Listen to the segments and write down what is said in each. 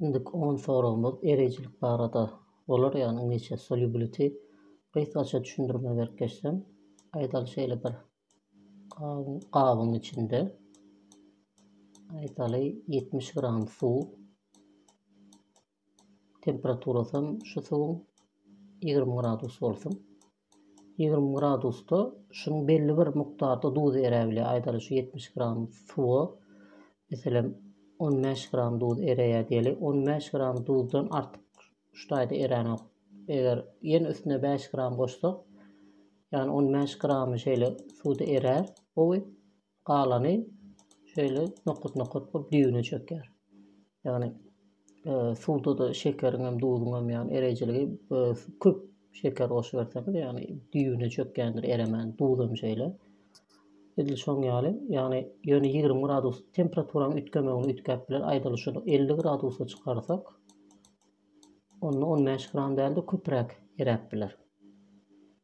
Indiki on soragymyz ereýjilik barada bolar ýagny iňlisçe solubility. Gysgaça düşündirme berip geçsem, aýdaly şeýle bir gabyň içinde aýdaly 70 gram suw Temperaturasam şu suwuň ýigrimi gradus bolsun. Ýigrimi gradusda şunuň belli bir mukdarda duz eräp bilýär. Aýdaly şu ýetmiş gram suwa meselem on bäş gram duz eräýär diýeli. On bäş gram duzdan artyk şu taýda eränok. Eger ýene üstüne bäş gram goşsak, ýagny on bäş gramy şeýle suwda erär gowy. Galany şeýle nokat-nokat bolup düýbüne çökýär. Ýagny e, suwda-da şekeriň hem, duzuň hem ýagny ereýjiligi e, köp şeker goşup berseňiz, ýagny düýbüne çökýändir, eremän. Duz hem şeýle. Edil şoň ýaly, ýagny ýöne 20 gradus temperaturanyň üýtgemegini üýtgäp biler. Aýdaly şuny 50 gradusa çykarsak, onda 15 gram däl-de köpräk eräp biler.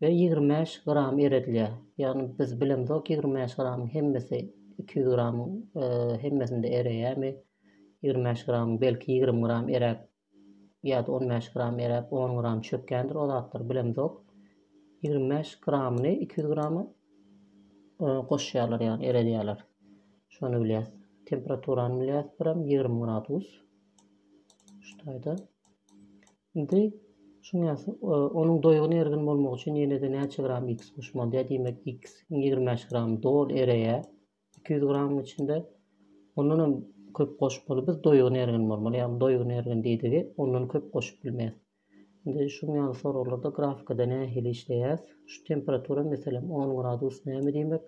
we ýigrimi bäş gram eredilýär. Ýagny biz bilemzok ýigrimi bäş gramyň hemmesi iki ýüz gramyň hemmesinde ereýärmi? Ýigrimi bäş gramyň belki ýigrimi gram eräp ýa-da on bäş gram eräp on gram çökýändir o zatlar bilemzok. Ýigrimi bäş gramyny iki ýüz grama goşýarlar ýagny eredýärler. Şony bilýäs. Temperaturany bilýäs birem ýigrimi gradus. Şu taýda. Indi, düşünýäňiz, onuň doýgun ergin bolmagy üçin ýene-de näçe gram X goşup bolýar? Diýmek, X-iň ýigrimi bäş gramy doly ereýär iki ýüz gramyň içinde. Ondan hem köp goşup bolmaz. Biz doýgun ergin bolmaly, ýagny doýgun ergin diýdigi ondan köp goşup bilmeris. Indi şuň ýaly soraglarda grafikada nähili işleýäris? Şu temperatura, meselem, on gradus näme diýmek?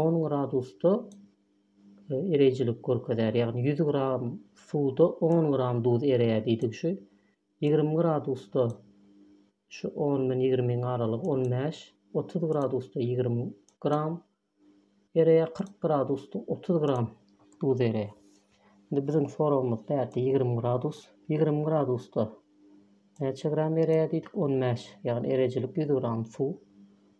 On gradusda ereýjilik görkezýär, ýagny ýüz gram suwda on gram duz ereýär diýdik şu. Ýigrimi gradusda şu on bilen ýigrimiň aralygy on bäş, otuz gradusda ýigrimi gram ereýär, kyrk gradusda otuz gram duz ereýär. Indi biziň soragymyz bärde ýigrimi gradus. Ýigrimi gradusda näçe gram ereýär diýdik? On bäş, ýagny ereýjilik ýüz gram suw.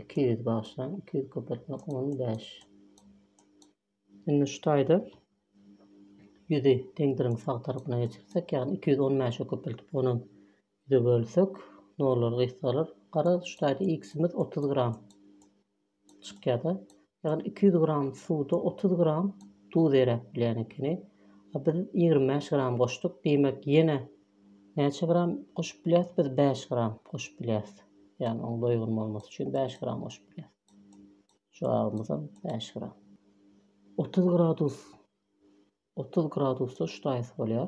iki ýüz bagşlaň iki ýüz köpeltmek on bäş indi şu taýda ýüzi deňdiriň sag tarapyna geçirsek ýagny iki ýüz on bäşe köpeltip ony ýüze bölsek nollar gysgalar garaz şu taýda x-imiz otuz gram çykýar-da Ýagny iki ýüz gram suwda otuz gram duz eräp bilýän ekeni. A biz ýigrimi bäş gram goşduk. Diýmek ýene näçe gram goşup bilýäs? Biz bäş gram goşup bilýäs. Ýagny oň doýgun bolmasy üçin bäş gram goşup bilýäs. Jogabymyzam bäş gram. Otuz gradus Otuz gradusda ştaýs bolýar.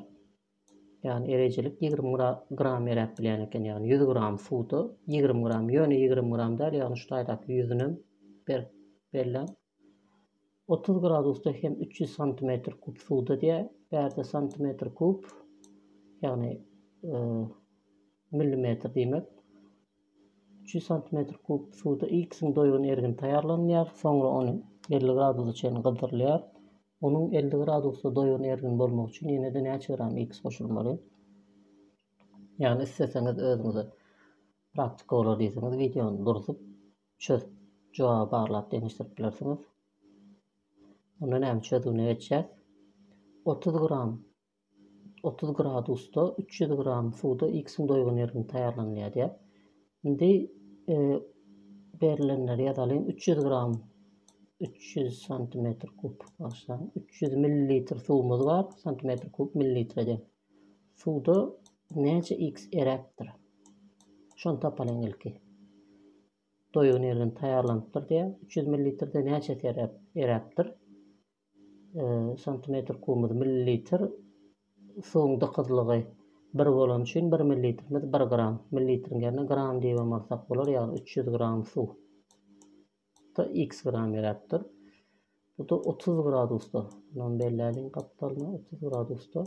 Ýagny erejilik ýigrimi gram eräp bilýän eken, ýagny ýüz gram suwda ýigrimi gram, ýöne ýigrimi gram däl, ýagny ştaýdaky ýüzünem berip belläň. Otuz gradusda hem üç ýüz santimetr kub suwda diýýär. Bärde santimetr kub, ýagny e, millimetr diýmek. Üç ýüz santimetr kub suwda ilkisin doýgun ergin taýýarlanylýar, soňra ony elli gradusa çenli gyzdyrylýar. Onuň elli gradusda doýan ergin bolmagy üçin ýene-de näçe gram X goşulmaly? Ýagny isleseňiz özüňize praktika bolar diýseňiz wideony durzup çözüp jogaby barlap deňeşdirip bilersiňiz. Onda näme çözgüne geçýäs. Otuz gram 30 gradusda 300 gram suwda X-iň doýgun ergini taýýarlanylýar diýýär. Indi e, berilenleri ýazalyň. 300 gram 300 santimetr kub başlaň. 300 millilitr suwumyz bar. Santimetr kub millilitre de. Suwda näçe X eräpdir? Şony tapalyň ilki. Doýgun ergin taýýarlanypdyr diýär. 300 millilitrde näçe eräpdir? Santimetr kubumyz millilitr, suwuň dykyzlygy bir bolany üçin bir millilitrimiz bir gram, millilitriň ýerine gram diýibem alsak bolar, ýagny üç ýüz gram suw da x gram beräpdir. Bu da otuz gradusda, mundan belläliň gapdalyny otuz gradusda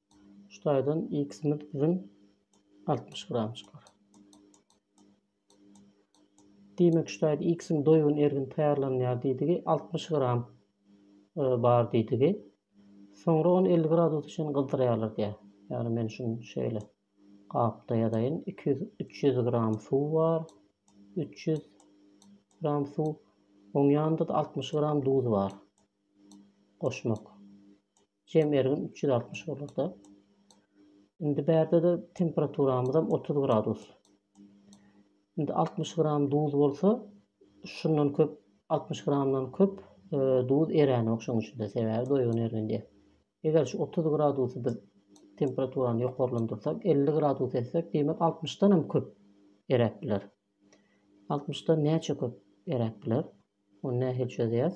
Şu taýdan X-imiz biziň altmyş gram çykar. Diýmek, şu taýda X-iň doýgun ergini taýýarlanýar diýdigi, altmyş gram e, bar diýdigi. Soňra ony elli gradusa çenli gyzdyrýarlar diýýär. Ýagny men şuny şeýle gapda ýazaýyn. Iki ýüz, üç ýüz gram suw bar. Üç ýüz gram suw. Oň ýanynda-da altmyş gram duz bar. Goşmak. Jem ergin üç ýüz altmyş bolurda. Indi bärde-de temperaturamyzam 30 gradus. Indi 60 gram duz bolsa, şundan köp 60 gramdan köp e, duz eränik şoň üçin-de sebäbi doýgun ergindi. Eger şu 30 gradusy biz temperaturany ýokarlandyrsak, 50 gradus etsek, diýmek 60-dan hem köp eräp biler. 60-dan näçe köp eräp biler? Ony nähili çözýäs?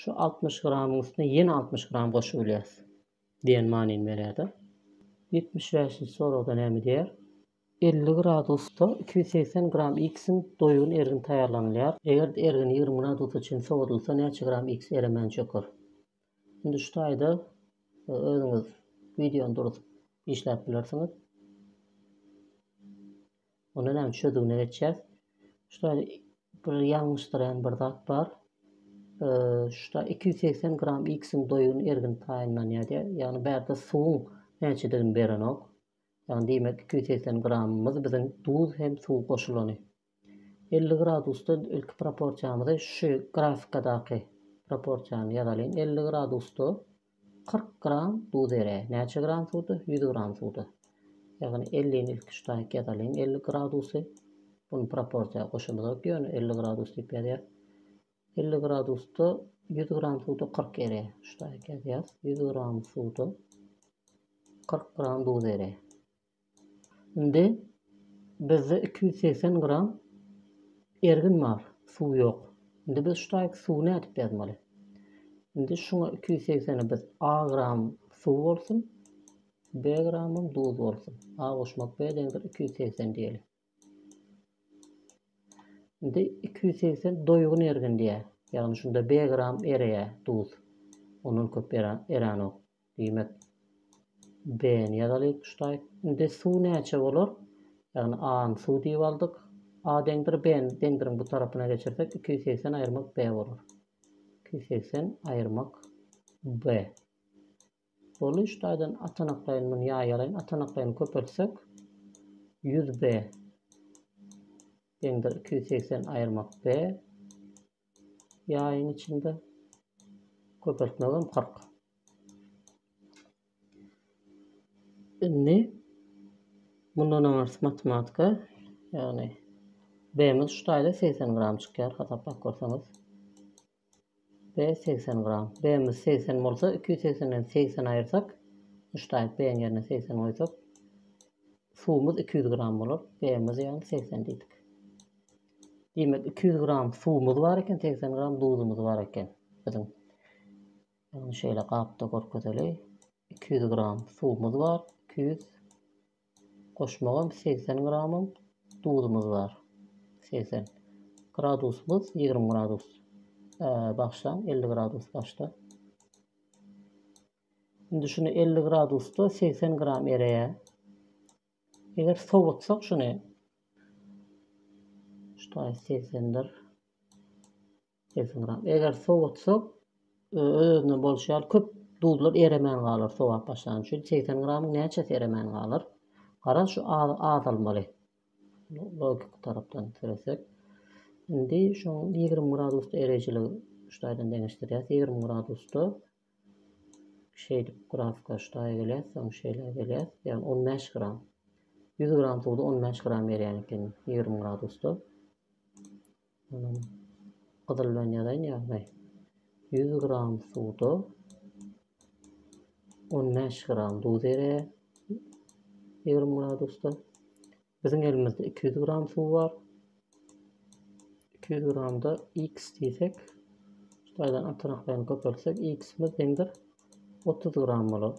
Şu altmyş gramyň üstüne ýene altmyş gram goşup bilýäris diýen manyny berýärdi. Ýetmiş bäşinji soragda näme diýýär? Elli gradusda iki ýüz segsen gram X-iň doýgun ergini taýýarlanylýar. Eger ergin ýigrimi gradusa çenli sowadylsa näçe gram X eremän çöker? Indi şu taýda e, özüňiz wideony durup işläp bilersiňiz. Onda näme çözügine geçýäs. Şuda bir ýalňyşdyran bir zat bar. Şuda 280 gram X-iň doýgun ergin taýynlanýar diýär. Ýagny bärde suwuň näçedigini berenok. Ýagny diýmek 280 gramymyz biziň duz hem suw goşulany. 50 gradusda ilki proporsiýamyzy şu grafikadaky proporsiýany ýazalyň. 50 gradusda Kyrk gram duz ere. Näçe gram suwda? Ýüz gram suwda. Ýagny ellini ilki şu taýyk ýazalyň. Elli gradusy bunu proporsiýa goşamyzok ýöne elli gradus diýip ýazýas. Elli gradusda ýüz gram suwda kyrk ere. Şu taýyk ýazýas. Ýüz gram suwda kyrk gram duz ere. Indi bizde iki ýüz segsen gram ergin bar, suw ýok. Indi biz şu taýyk suwy nädip ýazmaly? Indi şuňa iki ýüz segsene biz A gram suw bolsun, B gramym duz bolsun. A goşmak B deňdir iki ýüz segsen diýeli. Indi iki ýüz segsen doýgun ergin diýýär. Ýagny şunda B gram ereýär duz. Ondan köp eranok. Diýmek B-ni ýazaly ştaýt. Indi suw näçe bolar? Ýagny A-ny suw diýip aldyk. A deňdir B-ni deňdiriň bu tarapyna geçirsek iki ýüz segsen aýyrmak B bolar. Iki ýüz segsen aýyrmak B. Ol üç taýdan atanaklaýyn muny ýaýaraýyn. Atanaklaýyny köpeltsek 100 b deňdir 280 aýyrmak b ýaýyň içinde köpeltmegem 40. Indi mundan aňyrsy matematika ýagny b-miz şu taýda 80 gram çykýar hasaplap görseňiz. B segsen gram. B-miz segsen bolsa, iki ýüz segsenden segsen aýyrsak, muşdaýyň B-iň ýerine segsen goýsak, suwumyz iki ýüz gram bolar. B-miz ýagny segsen diýdik. Diýmek, iki ýüz gram suwumyz bar eken, segsen gram duzumyz bar eken biziň. Ýagny şeýle gapda görkezeli. Iki ýüz gram suwumyz bar, iki ýüz Goşmagam segsen gramym duzumyz bar. Segsen. Gradusymyz ýigrimi gradus. Bagşlaň elli gradus başda. Indi şuny elli gradusda segsen gram ereýär. Eger sowutsak şuny. Şutaý segsendir. Kesinram. Eger sowutsak, öz-özünden bolşy ýaly köp duzlar eremän galar sowap başlany üçin. Segsen gramyň näçesi eremän galar? Garaz şu azalmaly. Logiki tarapdan seresek. Indi şoň ýigrimi gradusda ereýjiligi şu taýdan deňeşdirýäs. Ýigrimi gradusda şeýdip grafika şu taýa gelýär, soň şeýle gelýär. Ýagny on bäş gram. Ýüz gram suwda on bäş gram erýän eken ýigrimi gradusda. Munuň gyzyldan ýazaýyn ýagny ýüz gram suwda on bäş gram duz eräýer ýigrimi gradusda. Biziň elimizde iki ýüz gram suw bar. Iki ýüz gramda x diýsek, şaýdan atanaklaryny köpeltsek, x-imiz deňdir otuz gram bolar.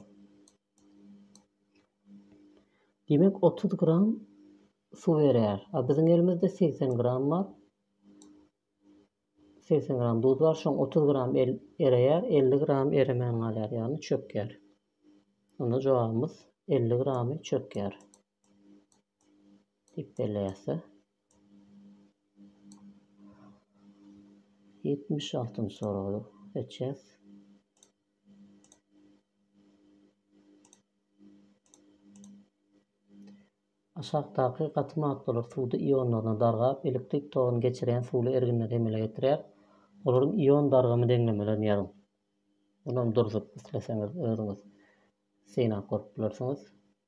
Diýmek otuz gram suw erýär. A biziň elimizde segsen gram bar. Segsen gram duz bar. Şoň otuz gram el ereýär, elli gram eremän galýar, ýagny çökýär. Onda jogabymyz elli gramy çökýär. Tipdelese. 76 soragy seçer. Aşakdaky gaty maddalar suwda ionlaryna dargap, elektrik toguny geçirýän suwly erginleri emele getirýär. Olaryň ion dargamy deňlemelerini ýazyň. Munam durzup isleseňiz özüňiz synap görüp bilersiňiz.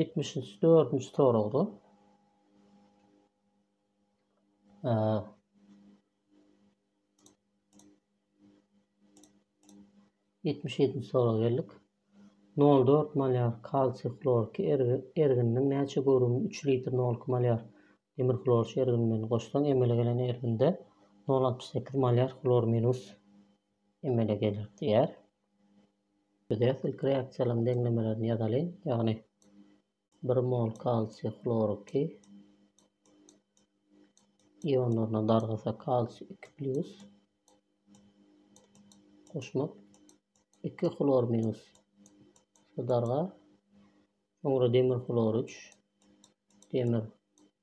Ýetmiş dördünji soragda ýetmiş ýedinji soraga geldik. 0,4 malyar kalsiý hlorki ergininiň näçe görümini 3 litr 0,2 malyar demir hlorki ergini bilen goşsaň emele gelen erginde 0,68 malyar hlor minus emele geler diýýär. Biz ýa ilki reaksiýalaryň deňlemelerini ýazalyň. Ýagny 1 mol kalsiý hloriki ionlaryna dargasa kalsiý 2 plyus goşmak 2 hlor minus darga Soňra demir hlor 3, demir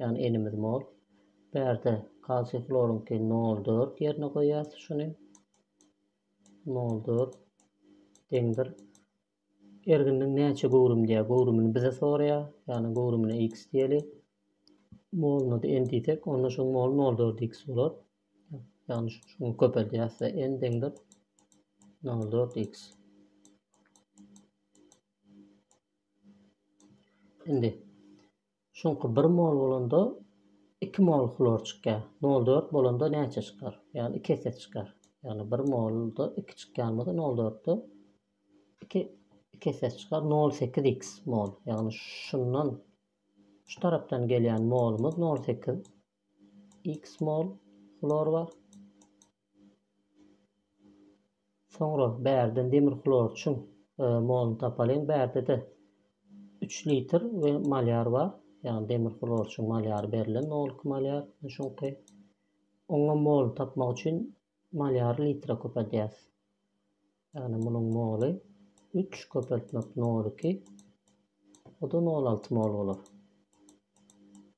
Ýagny elimiz mol. Bärde kalsiý hloryňky nol dört ýerine goýýas şuny. Nol dört deňdir. Erginiň näçe göwrüm diýýär. Göwrümini bize soraýar. Ýagny göwrümine x diýeli. Moluna da n diýsek, onda şuň moly nol dört x bolar. Ýagny şuny köpeldýäs we n deňdir nol dört x. Indi Çünki bir mol bolanda iki mol hlor çykýar. Nol dört bolanda näçe çykar? Ýagny iki esse çykar. Ýagny bir molda iki çykýan bolsa nol dörtde iki iki esse çykar. Nol sekiz x mol. Ýagny şundan şu tarapdan gelýän molumyz nol sekiz x mol hlor bar. Soňra bärden demir hlorçuň moluny tapalyň. Bärde-de üç litr we malýar bar. Ýagny demir hlorçuň malýary berlen 0,2 malýar şuňky. Oňa mol tapmak üçin malýary litre köpeldýäs. Ýagny munuň moly 3 köpeltmek 0,2 o da 0,6 mol bolar.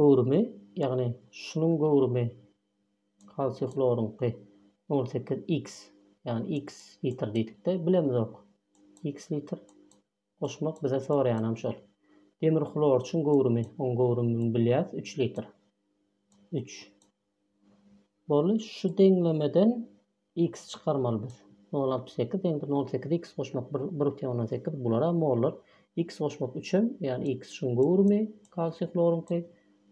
Göwrümi, ýagny şunuň göwrümi kalsiý hloryňky on sekiz X, ýagny X litr diýdikde bilemizok. X litr goşmak bize soraýanam şol. Demir hlorçyň göwrümi, oň göwrümini bilýäs, üç litr. Üç. Boldy, şu deňlemeden X çykarmaly biz. Nol altmyş sekiz ýa-da nol sekiz X goşmak bir bir butyn ondan sekiz bulara mollar. X goşmak üçem, ýagny X şuň göwrümi kalsiý hloryňky,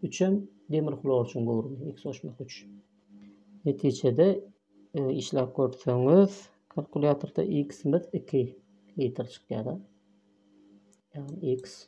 üçem demir hlor üçin göwrümi X goşmak üç. Netijede e, işläp görseňiz kalkulýatorda X-miz iki litr çykýar. Ýagny X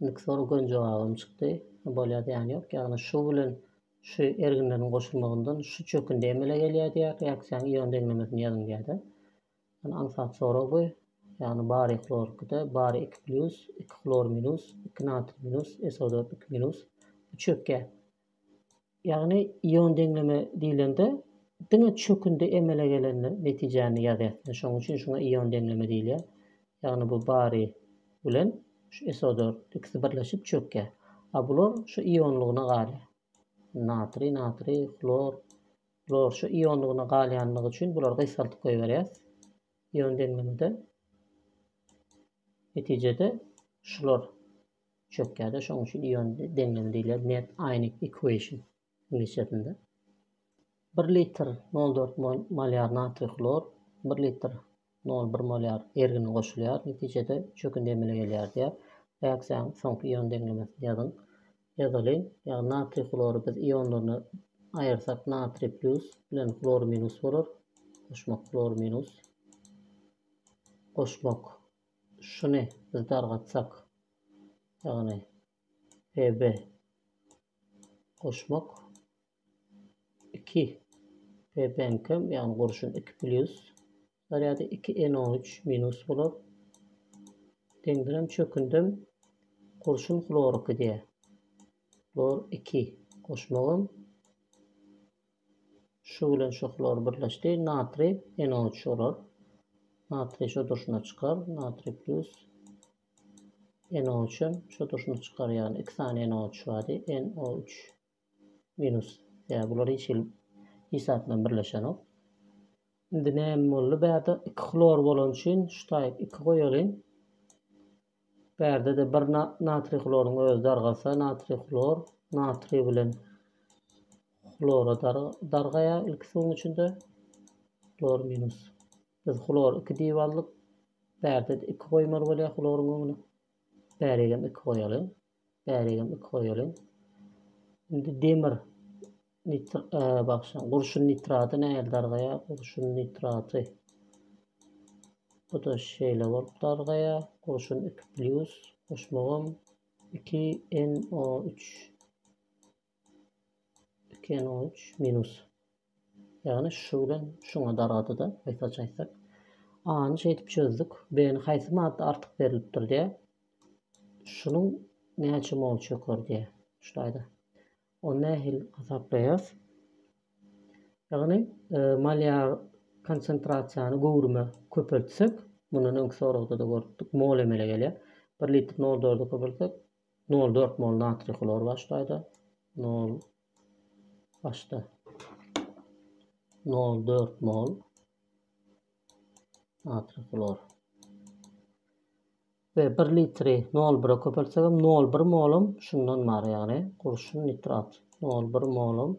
Indiki soraga göni jogabym çykdy. Bolýar diýen ýok. Ýagny şu bilen şu erginleriň goşulmagyndan şu çökündi emele gelýär diýýär. Reaksiýanyň ion deňlemesini ýazyň diýýär-de. Ýagny aňsat sorag bu. Ýagny bariý hlorikde bariý 2 plýus, 2 hlor minus, 2 natriý minus, SO4 2 minus. Bu çökýär. Ýagny ion deňleme diýlende diňe çökündi emele gelende netijäni ýazýas. Şonuň üçin şuňa ion deňleme diýilýär. Ýagny bu bary bilen şu SO4 ikisi birleşip çökýär. A bular şu ionlygyna galýar. Natriý, natriý, hlor, hlor şu ionlygyna galýanlygy üçin bulary gysgaltyp goýberýäs. Ion deňlemede netijede şular Çökýärde şoň üçin ion deňlemi diýler net ionic equation iňlisçesinde. 1 litr 0,4 mol molýar natriý hlor 1 litr 0,1 molýar ergini goşulýar netijede çökündi emele gelýär diýär. Reaksiýanyň soňky ion deňlemesini ýazyň. Ýazalyň. Ýagny natriý hlory biz ionlaryna aýyrsak natriý plus bilen hlor minus bolar. Goşmak hlor minus. Goşmak Şuny biz dargatsak, ýagny pb goşmak iki pbnkem, ýagny gurşun iki plýus zarýady iki NO üç minus bolar. Deňdirem çökündem gurşun hlor iki diýýär. Hlor iki goşmagam Şu bilen şu hlor birleşdi. Natriý, NO3 bolar. Natriý şu durşuna çykar. Natriý plus NO3 hem şu durşuna çykar. Ýagny iki sany NO3 bardy. NO3 minus. Ýa bular hiç hil hiç zat bilen birleşenok. Indi näme boldy? Bärde iki hlor bolan üçin şu taýyp iki goýalyň. Bärde-de bir natriý hloryň özi dargasa, natriý hlor natriý bilen hlora dargaýar ilki suwuň içinde. Hlor minus. Biz hlor 2 diýip aldyk. Bärde-de 2 goýmaly bolýar hloryň öňüne. Bärigem 2 goýalyň. Bäregem iki goýalyň. Indi demir nitr e, bagşyň gurşun nitraty nähili dargaýar? Gurşun nitraty. Bu-da şeýle bolup dargaýar. Gurşun 2+, goşmagam 2NO3. 2 n 13 minus. Ýagny şu bilen şuňa dargady-da, gysgaça aýtsak. A-ny şeýdip çözdük. B-ni haýsy madda artyk berilipdir diýä. Şunuň näçe mol çöker diýä. Şuýda. Ony nähili hasaplaýarys? Ýagny e, molýar konsentrasiýany göwrüme köpeltsek, mundan öňki soragda-da görüpdik, mol emele gelýär. 1 litr 0,4-e köpeltsek, Nol dört mol natriý hlor başlaýda. Nol başda. Nol dört mol natriý hlor. Ve bir litri nol bire köpeltsegem nol bir molum şundan bar yani. Kurşun nitrat. Nol bir molum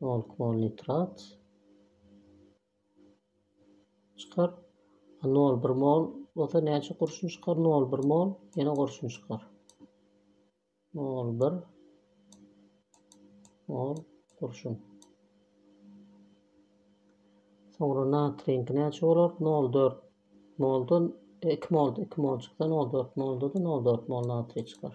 Bol bol nitrat çykar. A nol bir mol bolsa näçe gurşun çykar? Nol bir mol ýene gurşun çykar. Nol bir mol gurşun. Soňra natriýiňki näçe bolar? 0,4 moldan 2 mol 2 mol çyksa 0,4 molda da 0,4 mol natriý çykar.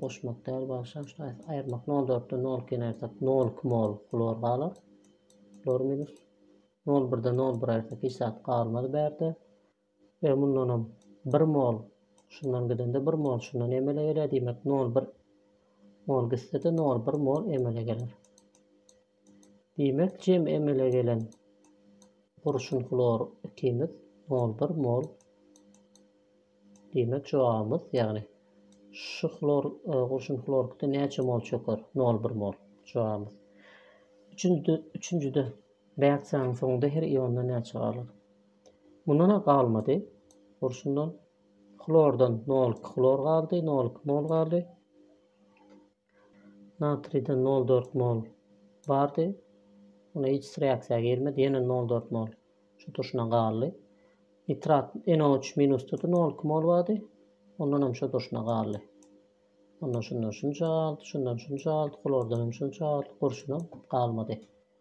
goşmak däl bagşam şuny aýt aýyrmak nol dörtde nol ikini aýyrsak nol iki mol hlor galar hlor minus nol birde nol bir aýyrsak hiç zat galmaz bärde we mundanam bir mol şundan gidende bir mol şundan emele gelýär diýmek nol bir mol gitsede nol bir mol emele geler Diýmek jem emele gelen gurşun hlor ikimiz mol bir mol diýmek jogabymyz ýagny şu hlor e, gurşun hlorkda näçe mol çöker? Nol bir mol jogabymyz. Üçünjide, üçünjide reaksiýanyň soňunda her iondan näçe galar? Mundan galmady. Gurşundan hlordan 0,2 hlor galdy, 0,2 mol galdy. Natriden nol dört mol bardy. Onda hiç his reaksiýa girmedi. Ýene nol dört mol şu durşuna galdy. Nitrat NO3 minusdady. Nol iki mol bardy. Ondan hem şu durşuna galdy. Ondan şundan şunça galdy. Şundan şunça galdy. Klordan hem şunça galdy. Gurşuna galmady.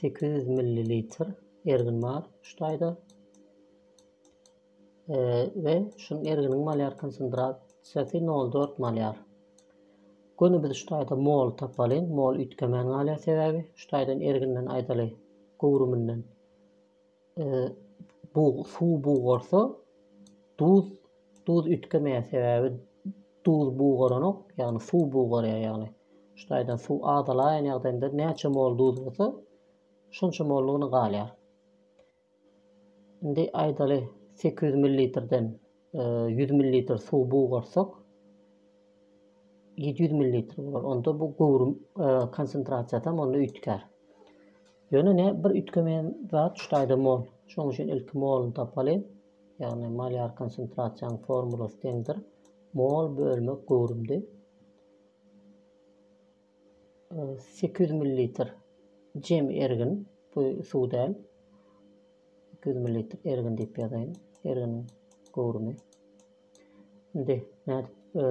Sekiz ýüz millilitr ergin bar şu taýda. E, we şuň erginiň malýar konsentrasiýasy 0,4 malýar. Göni biz şu taýda mol tapalyň. Mol üýtgemän galýar sebäbi şu taýdan erginden aýdaly göwrüminden suw bugarsa duz duz üýtgemeýär sebäbi duz bugaranok ýagny suw bugarýar ýagny şu taýdan suw azalaýan ýagdaýynda näçe mol duz bolsa şonça mollugyna galýar indi aýdaly sekiz ýüz millilitrden 100 millilitr suwy bugarsak, 700 millilitr bolar. Onda bu göwrüm e, konsentrasiýasy hem onda üýtgär. Ýöne ne bir üýtgemeýän zat şu taýda mol. Şonuň üçin ilki moluny tapaly. Ýagny molýar konsentrasiýanyň formulasy deňdir. Mol bölmek göwrümdi. Sekiz ýüz millilitr jem ergin, bu suw däl. Sekiz ýüz millilitr ergin diýip ýazaýyn. Erginiň göwrümi. Indi nädip e,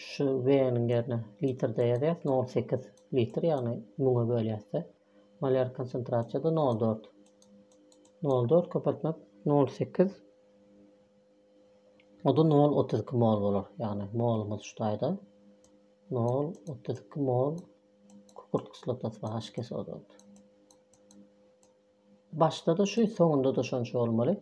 şu V-niň ýerine litrde ýazýas, 0,8 litr, ýagny 1000-e bölýäs-de. Molýar konsentrasiýada 0,4. 0,4 köpeltmek 0,8 o da 0,32 mol bolar. Ýagny molumyz şu taýda. Nol otuz iki mol kukurt kislotasy bar haş kesodonda. Başda-da şu, soňunda-da şonça bolmaly.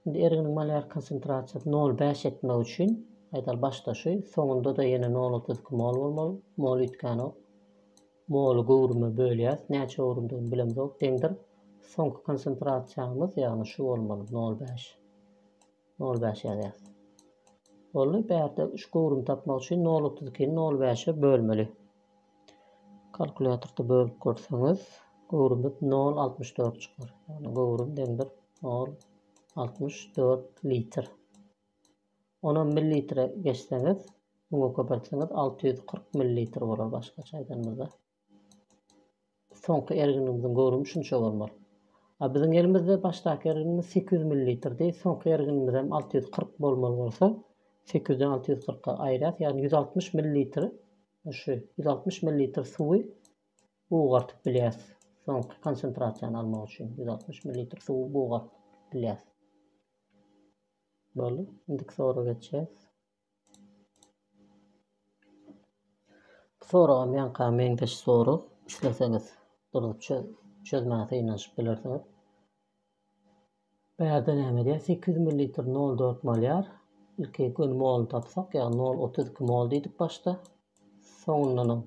Indi erginiň molýar konsentrasiýasy nol bäş etmek üçin, aýdaly, başda şu, soňunda-da ýene nol otuz iki mol bolmaly. Mol üýtgänok. Moly göwrüme bölýäs. Näçe göwrümdigini bilemzok. Deňdir. Soňky konsentrasiýamyz, ýagny şu bolmaly, nol bäş. Nol bäş ýazýas. Boldy. Bärde üç göwrüm tapmak üçin nol otuz ikini nol bäşe bölmeli. Kalkulýatorda bölüp görseňiz, göwrümiz nol altmyş dört çykar. Ýagny göwrüm deňdir nol altmyş dört litr. Ony millilitre geçseňiz, müňe köpeltseňiz alty ýüz kyrk millilitr bolar başgaça aýdanymyzda. Soňky erginimiziň göwrümi şunça bolmaly. A biziň elimizde başdaky erginimiz sekiz ýüz millilitrdi, soňky erginimizem alty ýüz kyrk bolmaly bolsa, sekiz ýüzden alty ýüz kyrka aýyrýas, ýagny ýüz altmyş millilitr şu ýüz altmyş millilitr suwy bugartyp bilýäs. Soňky konsentrasiýany almak üçin ýüz altmyş millilitr suwy bugaryp bilýäs. Boldy. Indiki soraga geçýäs. Bu soragam ýaňka meňzeş sorag. Isleseňiz durup çözmäge synanyşyp bilersiňiz. Bärde näme edýär? 800 ml 0,4 mol ýar. Ilki göni moluny tapsak, ýagny 0,32 mol diýdik başda. Soňundanam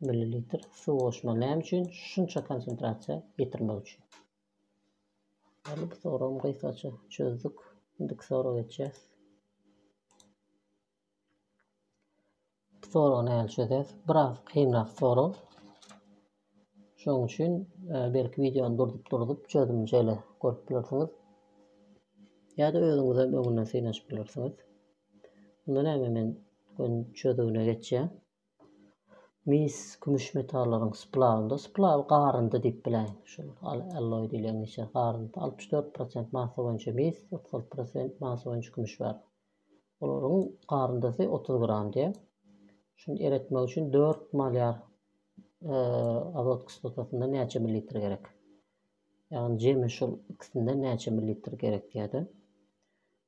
Millilitr suw goşma näme üçin? Şunça konsentrasiýa getirmek üçin. Hadi bu soragymy gysgaça çözdük. Indiki soraga geçýäs. Bu soragy näle çözýäs? Biraz kynrak sorag. Şonuň üçin e, belki wideony durdup-durdup çözümini şeýle görüp bilersiňiz. Ýa-da özüňiz hem öňünden synaşyp bilersiňiz. Unda näme men gün çözüwine geçýän. Mis kümüş metallaryň splawnda, splaw garyndy diýip biläýin. Şu alloý diýlen içer garyndy. 64% massa boýunça mis, 36% massa boýunça kümüş bar. Olaryň garyndysy 30 gram diýär. Şuny eretmek üçin 4 malyar azot kislotasyndan näçe millilitr gerek? Ýagny jemi şol ikisinden näçe millilitr gerek diýýärdi.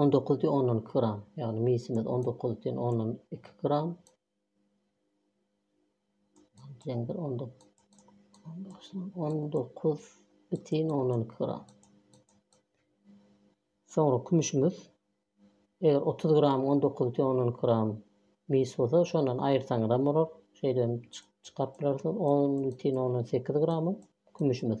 On dokuz diýen ondan iki gram. Ýagny misimiz on dokuz diýen ondan iki gram. Deňdir on dokuz. On dokuz bitin ondan iki gram. Soňra kümüşimiz eger otuz gram on dokuz bitin ondan iki gram mis bolsa şondan aýyrsaňyz hem bolar. Şeýdem çykaryp bilersiňiz. On bitin ondan sekiz gram kümüşimiz.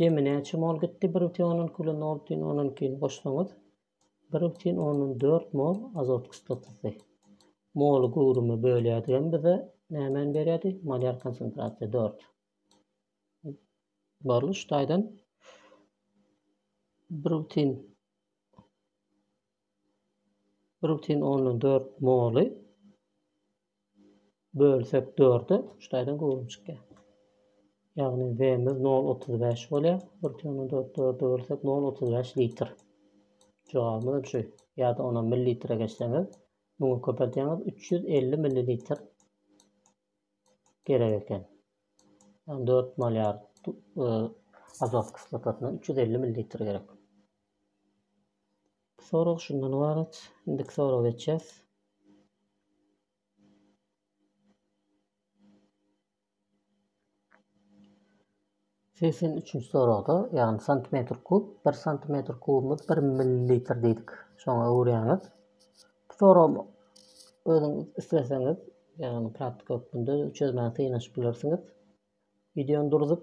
Jemi näçe mol gitdi bir bütin ondan iki bilen nol bütin ondan ikini goşsaňyz bir bütin ondan dört mol azot kislotasy. Moly göwrüme bölýädigem bize nämäni berýärdi? Molýar konsentrasiýa dört. Barly şu taýdan bir bütin bir bütin ondan dört moly Bölsek dörde şu taýdan göwrüm çykýar. Ýagny Vmiz nol otuz bäş bolýar. Bir tüýäni dört dörde bölsek nol otuz bäş litr. Jogabymyzam şu. Ýa-da onam millilitre geçseňiz, muňa köpeldýäňiz üç ýüz elli millilitr gerek eken. Ýagny dört molýar azot kislotasyna üç ýüz elli millilitr gerek. Sorag şundan ybarat. Indiki soraga geçýäs. Segsen üçünji soragda, ýagny santimetr kub, bir santimetr kubumyz bir millilitr diýdik. Şoňa öwürýäňiz. Bu soragy özüňiz isleseňiz, ýagny praktika hökmünde çözmäge synanyşyp bilersiňiz. Wideony durzup,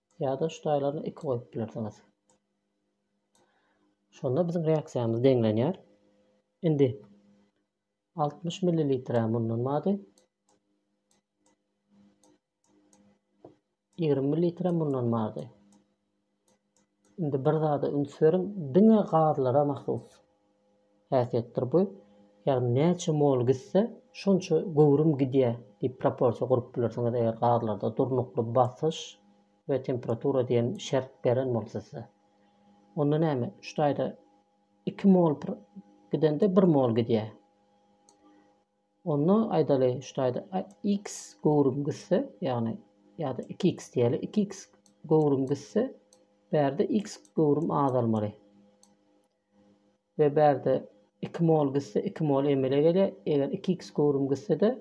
Ýa-da şu taýlaryny iki goýup bilersiňiz. Şonda biziň reaksiýamyz deňlenýär. Indi 60 millilitre mundan bady. 20 millilitre mundan bady. Indi bir zada üns beriň, diňe gazlara mahsus. häsiýetdir bu. Ýagny näçe mol gitse, şonça göwrüm gidýär diýip proporsiýa gurup bilersiňiz, eger gazlarda durnukly basyş we temperatura diýen şert beren bolsa size. Onda näme, üç taýda iki mol gidende bir mol gidýär. Onda aýdaly, üç taýda x göwrüm gitse, ýagny ýa-da 2x diýeli, 2x göwrüm gitse, bärde x göwrüm azalmaly. we bärde iki mol gitse iki mol emele gelýär, eger iki x göwrüm gitsede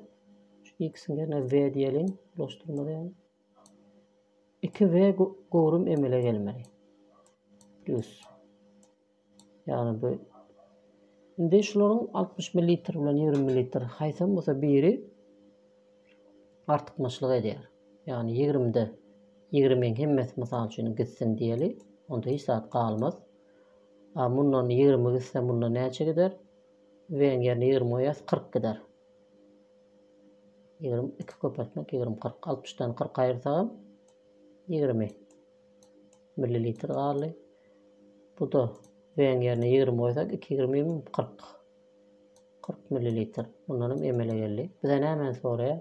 şu x-iň ýerine w diýeliň, bulaşdyrmaly ýaly, iki w göwrüm emele gelmeli. Plus. Ýagny bu Indi şularyň 60 ml bilen 20 ml haýsam bolsa biri artykmaçlyk edýär. Ýagny 20-de 20-iň hemmesi mysal üçin gitsin diýeli, onda hiç zat galmaz. A mundan ýigrimi gitse munda näçe gider? V-iň ýerine ýigrimi goýýas, kyrk gider. Ýigrimi iki köpeltmek ýigrimi kyrk. Altmyşdan kyrk aýyrsagam ýigrimi millilitr galdy. Bu-da V-iň ýerine ýigrimi goýsak, iki ýigrimi kyrk. Kyrk millilitr. Mundan hem emele geldi. Bize nämäni soraýar?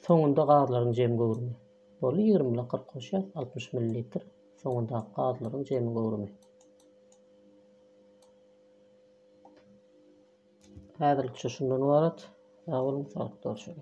Soňunda gazlaryň jem göwrümi. Boldy, ýigrimi bilen kyrk goşýas, altmyş millilitr. Soňundaky gazlaryň jemi göwrümi. Häzirlikçe şundan ybarat. Sag boluň, saglyk görüşeli.